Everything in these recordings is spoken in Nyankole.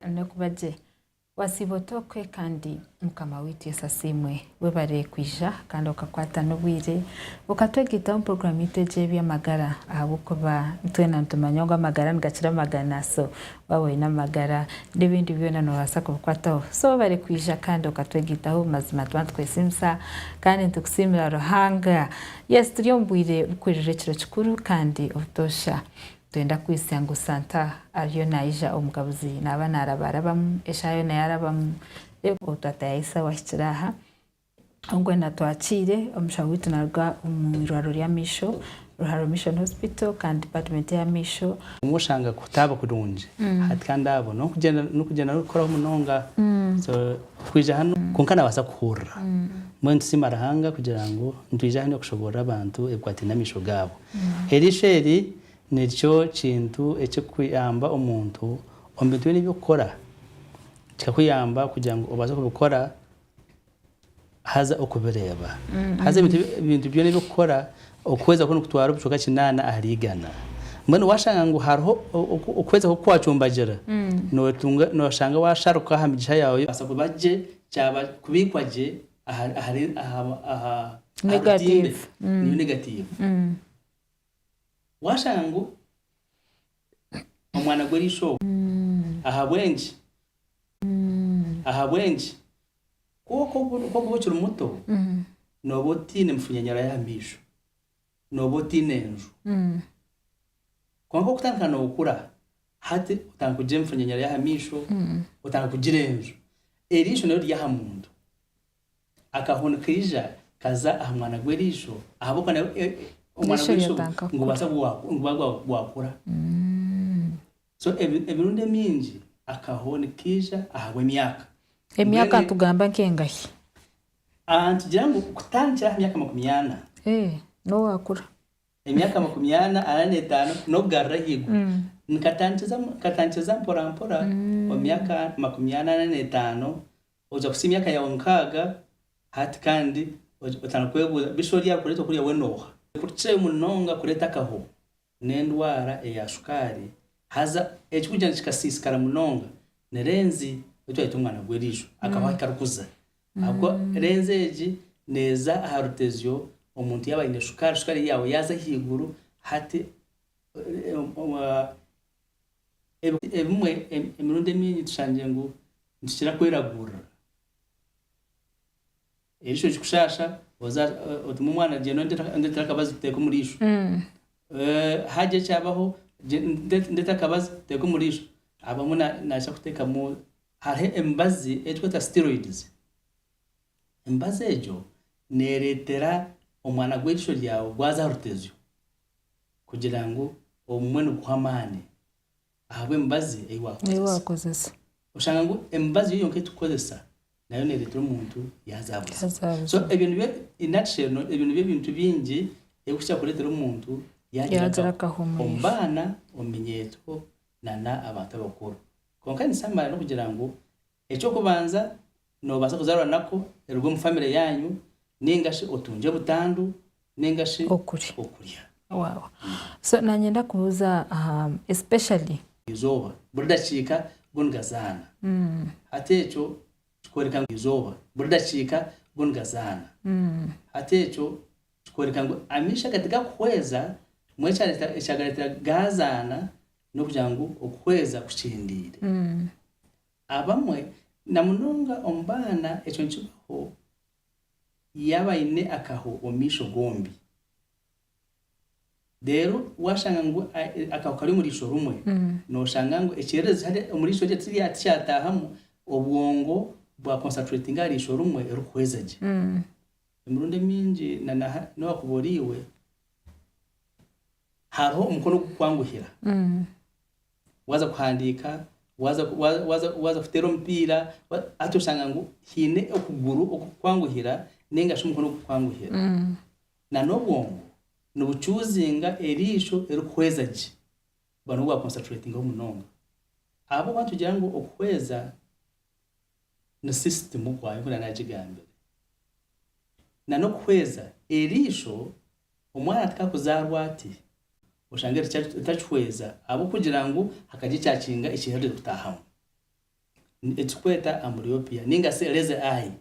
Nokuba gye wasiiba ota okwe kandi mukama waitu Yesu asiimwe. Webare kwija kandi okakwata n'obwire okatwegaitaho omu puroguramu yaitu egi ey'eby'amagara ahabw'okuba itwena nitumanya ngu amagara nigakira amagana so waaba oine amagara n'ebindi byona nobaasa kubikwataho so webare kwija kandi okatwegaitaho mazima tuba nitukwesiimisa kandi nitukusiimira Ruhanga. Yes turi omu bwire bukuhurira ekiro kikuru kandi obutoosha. Twenda kwitsya ngu Santa ariyo naija omugabuzi naaba naaraba arabamu, eshaaha yoona yaarabamu, reero obwo twatayaho esaaho ahikire aha, obwo na twakiire omushaho waitu naaruga omu irwariro ry'amaisho, Ruharo Mission Hospital kandi Dipatimenti y'amaisho. Obumwe oshanga kutaaba kurungi hati kandi abo n'okugyenda n'okugyenda n'orikukoraho munonga, so twija hanu kwonka naabaasa kuhurira. Mbwenu tusiima Ruhanga kugira ngu nitwija hanu okushoboorora abantu ebikwataine n'amaisho gaabo. Eriisho eri nikyo kintu ekirikuyamba omuntu omu bintu byona ebi orikukora. Kikakuyamba kugira ngu obaase kubikora haza okubireeba. Haza ebintu byona ebi orikukora okwezakwo nikutwara obucweka kinaana ahari igana. Mbwenu waashanga ngu hariho okwezakwo oku kwacumbagira, nooshanga waasharuka aha migisha yaawe. Kubaasa kuba gye, kubiikwa gye. aha aha aha aha aha katimba Negative. eki niyo negatiivu Mm. waashanga ngu omwana gw'erisho ogwo Mm. ahabw'enki Mm. ahabw'enki kw'oka obu- kw'okuba okiri muto Mm. nooba otaine mifunyanyura y'amaisho nooba otaine nju. Kwonka okutandika nookura, hati otandika kugira emifunyanyara y'aha maisho, otandika kugira enju. Eriisho naryo riri aha muntu. Akaho nikaija kaza aha mwana gw'eriisho ahabw'okuba nawe omwana gw'eriisho nigubaasa kuba gwakura. So emirundi emingi akaho nikaija ahabw'emyaka. Emyaka Mbwenu nitugamba nk'engahi? Ah, nitugira ngu kutandikira aha myaka makumi ana. Eh, n'owaakura. Emyaka makumi ana, ana n'etaano, n'okugarura ahaiguru. Nikatandikiriza nikatandikiriza mporampora omu myaka makumi ana, ana n'etaano, oija kuhitsya emyaka yaawe nkaaga, hati kandi otandika kwebuuza, Bishwe oryakureeta kuriya we nooha? Kurukirayo munonga kureeta akaho n'endwara eya sukaari, haza ekikugyenda kikasiisikara munonga. Ni Renzi ou twayeta omwana gw'eiriijo. Akabaho ahi karikuza. Ahabw'okuba Renzi egi neeza aha rutezyo omuntu yaaba aine sukaari, sukaari ye yaaba yaaza ahaiguru, hati ebimwe emirundi emingi tushangire ngu nitukira kweragurira. Erisho ekikushasha oza otume omwana agyenda ondetera akabazi tuteeke omu riisho. Hagya ekyabaho ndeta akabazi tuteeke omu riisho. Abamwe naija kuteekamu hariho emibazi ei turikweta steroids. Emibazi egyo neereetera omwana gw'erisho ryawe gwaza aha rutezyo kugira ngu ogumwe niguha amaani. ahabw'emibazi ei waakozesa. Oshanga ngu emibazi yo yonka ei turikukozesa nayo neereetera omuntu yaazaabuzibwa. So ebyo nibyo, in nutshell, ebyo nibyo bintu bingi ebirikuhikira kureetera omuntu yaagira akaho omu baana, omu minyeeto, n'abantu abakuru. Kwonka nikisaamara n'okugira ngu Eky'okubanza, noobaasa kuzaarwa nakwo, eruge omu famire yaanyu, nainga shi otungye butandu nainga shi okurya. Waawa. So naanye ndakubuuza aha especially. Eizooba buri dakiika go nigazaana. Hati ekyo kikworeka ngu. Eizooba buri dakiika go nigazaana. Hati ekyo kikworeka ngu amaisho aga tigakuhweza mbwenu ekyareetera ekyagareetera gaazaana n'okugira ngu okuhweza kukyendeire. Abamwe, na munonga omu baana ekyo nikibaho yaaba aine akaho omu maisho gombi. Reero waashanga ngu akaho kari omu riisho rimwe, nooshanga ngu ekyererezi hare omu riisho rye tirya tikyataahamu, obwongo bwa concentratinga aha riisho rimwe erikuhweza gye. Emirundi emingi na na ha n'owakuba oriiwe, hariho omukono ogukukwanguhira Waaza kuhandiika, waaza waaza waaza kuteera omupiira, wa hati oshanga ngu haine okuguru okukukwanguhira ninga shi omukono okukukwanguhira. Na n'obwongo nibucuuzinga eriisho erikuhweza gye kuba nibwo bwakonsaturaitingaho munonga. Ahabw'okuba nitugira ngu okuhweza ni sisitimu kwayo nk'oku naagigambire. Na n'okuhweza eriisho Omwana atikakuzaarwa ati, oshange otakihweza ahabw'okugira ngu hakagye ekyakinga ekiherire kutaahamu. Ni ekiturikweta amblyopia ninga shi lazy eye.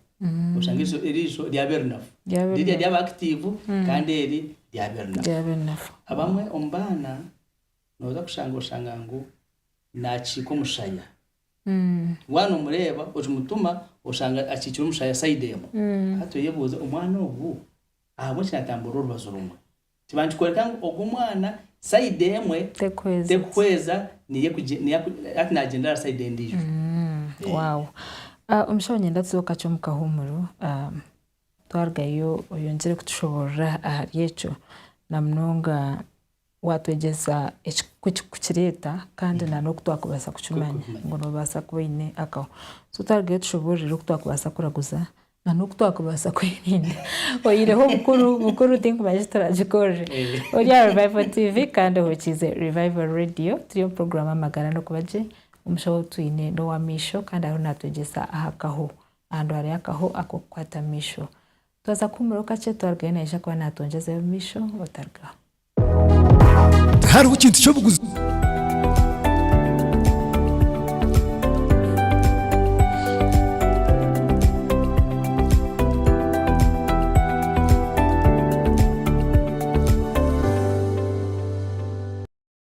Oshange eisho eriisho ryaba erinafu. Rirya ryaba active kandi eri ryaba erinafu. Ryaba erinafu. Abamwe omu baana nooza kushanga oshanga ngu naakiika omushaya. Waaba noomureeba okimutuma oshanga akiikire omushaya side emwe. Hati oyebuuze omwana ogu. Ahabw'enki natamburira orubaju rumwe? Kiba nikikworeka ngu ogu omwana sayidi emwe terikuhweza niye hati nagyendera aha sayidi endiijo. Omushaho nyenda tuze okakye omu kahuumuro twarugayo oyongyere kutushoboorora ahari ekyo namunonga Waatwegyesa ku kireeta kandi n'oku twakubaasa kukimanya ngu noobaasa kuba oine akaho. So twarugayo tushoboororire oku twakubaasa kuraguza n'oku twakubaasa kwerinda. Oyihireho bukuru bukuru tinkumanya eki turaagikorere. Ori aha Revival TV kandi ohurikiize Revival Radio. Turi omu puroguraamu Amagara n'Okuba Gye. Omushaho ou twine n'ow'amaisho kandi ariho naatwegyesa aha kaho. Aha ndwara y'akaho ak'okukwata amaisho. Twaza kuhumuraho kakye twarugayo naija kuba naatwongyeza eby'omumaisho otarugaho. Tihariho kintu ky'obuguzi.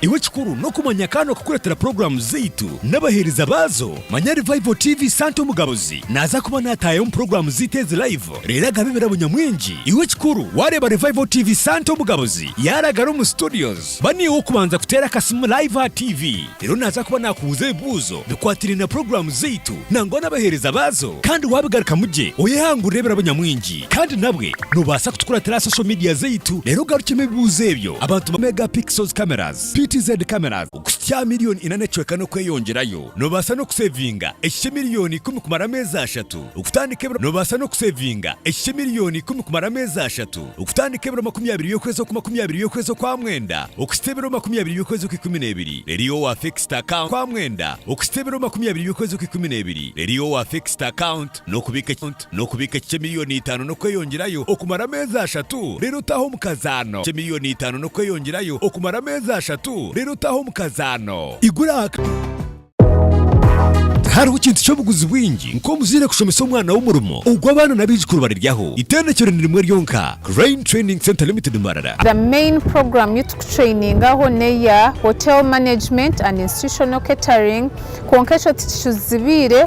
Iwe ekikuru n'okumanya ka n'okukureetera puroguraamu zaitu n'abaheereza baazo. Manya Revival TV Santa Omugabuzi naaza kuba naataayaho omu puroguraamu zaitu ezi live reero agabe ebirabo nyamwingi. Iwe ekikuru waareeba Revival TV Santa Omugabuzi yaaragara omu studios, ba niiwe ow'okubanza kuteera akasimu live aha TV reero naaza kuba naakubuuza ebibuuzo bikwatiraine na puroguraamu zaitu nangwa n'abaheereza baazo. Kandi waabigarukamu gye oyehangurire ebirabo nyamwingi. Kandi nabwe nobaasa kutukuratira aha social media zaitu reero ogarukemu ebibuuzo ebyo. Abantu ba Mega Pixels Cameras, PTZ Cameras, okuhitsya aha milioni ina n'ecweka n'okweyongyerayo. Nobaasa n'okusevinga ekihikye milioni ikumi kumara ameezi ashatu. Okutandika ebiro Nobaasa n'okusevinga ekihikye milioni ikumi kumara ameezi ashatu. Okutandika ebiro makumi abiri by'okwezi okwa makumi abiri by'okwezi okwa mwenda okuhitsya ebiro makumi abiri by'okwezi okwa ikumi n'ebiri reero iwe wa fixed account okwa mwenda okuhitsya ebiro makumi abiri by'okwezi okwa ikumi n'ebiri reero iwe wa fixed account n'okubiika N'okubiika eki ky'emiliyoni itaano n'okweyongyerayo okumara ameezi ashatu, reero otaahe omu kazaano. Ky'emiliyoni itaano n'okweyongyerayo okumara ameezi ashatu, reero otaahe omu kazaano. Igura aha. Tihariho kintu ky'obuguzi bwingi nk'omuzaire kushomesa omwana we omurimo ogu abaana n'abaijukuru bariryaho. Itendekero ni rimwe ryonka, Crane Training Centre Limited Marara. The main program yu tukutrainingaho neya Hotel Management and Institutional Catering kwonka ekyo tikicuzibiire.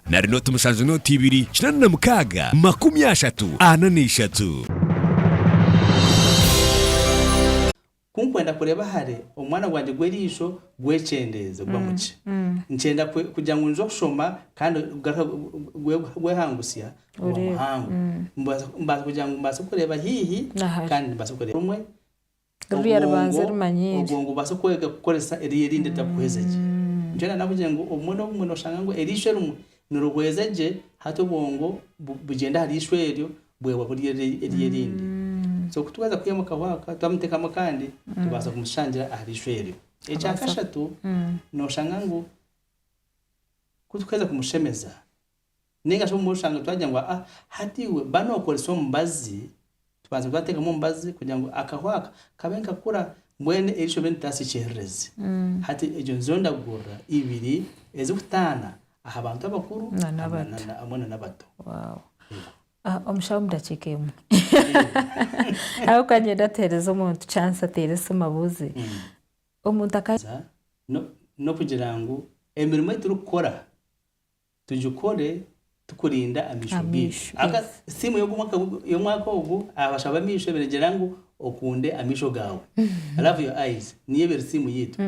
Nari nooti mushanju nooti ibiri kinaana na mukaaga makumi ashatu ana na ishatu. Ku nkwenda kureeba hare omwana gwangye gw'eriisho gwekyendeeze gwa mu ki, nkyenda kugira ngu nze okushoma kandi gugaruka gwehangusya omuhango, mbaasa kugira ngu mbaase kureeba haihi kandi mbaase kureeba omwe obwongo ngu bubaase kwega kukoresa eriiso erindi ritakuhweza gye. Nikyo nari nabugire ngu obumwe n'obumwe noshanga ngu eriiso erimwe nirihweza gye hati obwongo bugyenda aha riiso eryo bwehwa buri eryo erindi. So ku twaheza kwihamu akahwaka twamuteekamu akandi tubaasa kumushangira aha riiso eryo. Ekya kashatu noshanga ngu ku tuheza kumushemeza, Nainga shi obumwe oshange twagira ngu aa hati iwe ba nokoresa omubazi, tubanze twatekamu omubazi kugira ngu akahu aka kabe nikakura mbwenu erisho ribe niritaasa ekyererezi. Hati egyo nizo ndagurira ibiri ezirikutaana aha bantu abakuru hamwe na n'abato. Omushaho omu dakiika emwe ahabw'okuba niinyenda tuhereze omuntu chance ateere esimu abuuze omuntu. N'okugira ngu emirimo ei turikukora Tugikore tukurinda amaisho gaitu. Amiisho, yes. Siimu y'Omwaka y'Omwaka ogu abasha b'amaisho eberegira ngu Okunde Amaisho Gaawe, Love Your Eyes, niyo ebere siimu yaitu.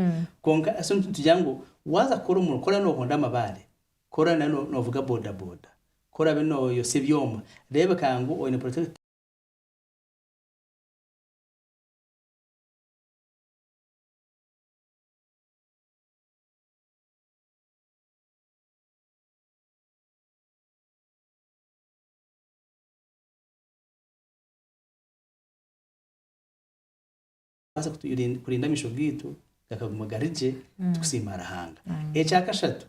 Kwonka so nitugira ngu waaza kukora omurimo, kora noohonda amabaare, kora nari noovuga bodaboda, kora obe nooyotsya ebyoma, reebeka ngu oine protector. kubaasa kuturinda kurinda amaisho gaitu gakaguma gari gye tukusiima Ruhanga. Ekyakashatu,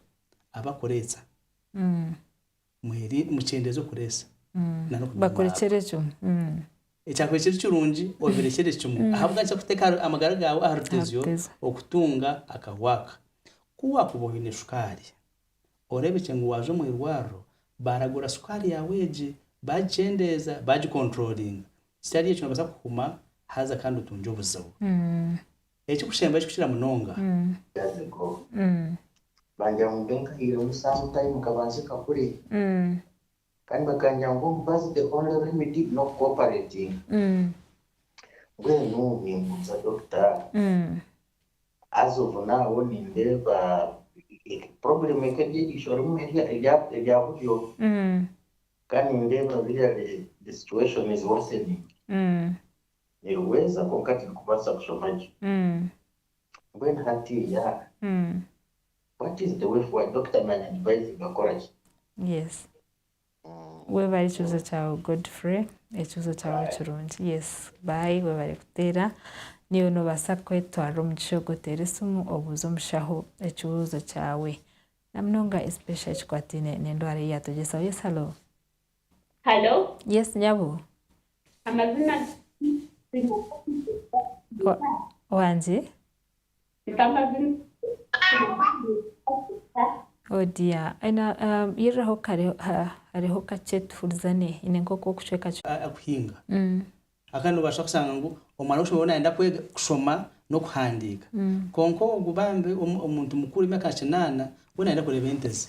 abakureetsa. mweri mukyendeeze okureesa Mm. na n'okuguma omu Bakurekyera mabara. ekyo. Mm. Ekyakubaire kiri kirungi obirekyere kimwe ahabw'enki nikyo kuteeka aha- amagara gaawe aha rutezyo Ahabutezyo. okutunga akahu aka. Ku waakuba oine sukaari, oreebekye ngu waaza omu irwariro baaragura sukaari yaawe egye, baagikyendeeza, baagikontorooringa. Kitari ekyo noobaasa kuhuma haza kandi otungye obuzibu. Mm. Ekikushemba ekikukira munonga. Gazeko. Bangira ngu mbe nkahaire omusaho time kabanze kakure kandi bakangira ngu omubazi the only remedy n'oku cooperatinga. Mbwenu nimbuuza Dokita as of now nindeeba problem eka eri eriisho rimu erya buryo kandi nindeeba biriya the situation is worsening. Nirihweza kwonka tirikubaasa kushoma gye. Mbwenu hati yaha? What is the way forward? Dokita naanyadivayizinga kukora ki? Yes. Webare ekibuzo kyawe Godfrey. Ekibuzo kyawe kirungi. Yes. Bye. Webare kuteera. Naiwe nobaasa kwetwarira omugisha ogu oteere esimu obuuze omushaho ekibuuzo kyawe. Namunonga especially ekikwataine nendwara eyi yatwegyesa. Yes, hallo. Halo. Yes nyabo. Amazima wangye. Oh dear yiriraho kare hariho kakye tuhurizane nyine nkoku okucweka kuhinga hakuba nobasa kusanga ngu omwana wokushomesa we nayenda kwega kushoma nokuhandiika kwonka ogu bambi omuntu mukuru emyaka nka kinaana we nayenda kureba ente ze.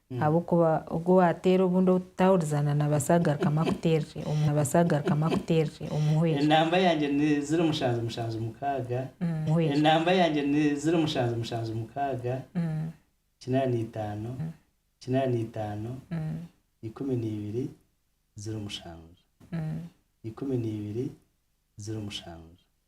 Ahabw'okuba ogwo owaateera obundi ou tutaahurizaana naabaasa kugarukamu akuteerere omu naabaasa kugarukamu akuteerere omuhwera. Enamba yangye ni ziro mushanju mushanju mukaaga muhwera. Enamba yangye ni ziro mushanju mushanju mukaaga kinaana itaano kinaana itaano ikumi na ibiri ziro mushanju ikumi na ibiri ziro mushanju.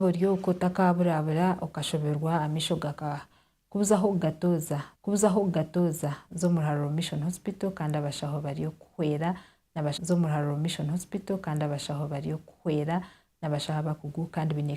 Oryooka otakaaburabura okashoberwa amaisho gaka kubuzaho okugatooza kubuzaho okugatooza za omu Ruharuro Mission Hospital kandi abashaho bari okukuhwera na za omu Ruharuro Mission Hospital kandi abashaho bari okukuhwera n'abashaho abakugu kandi baine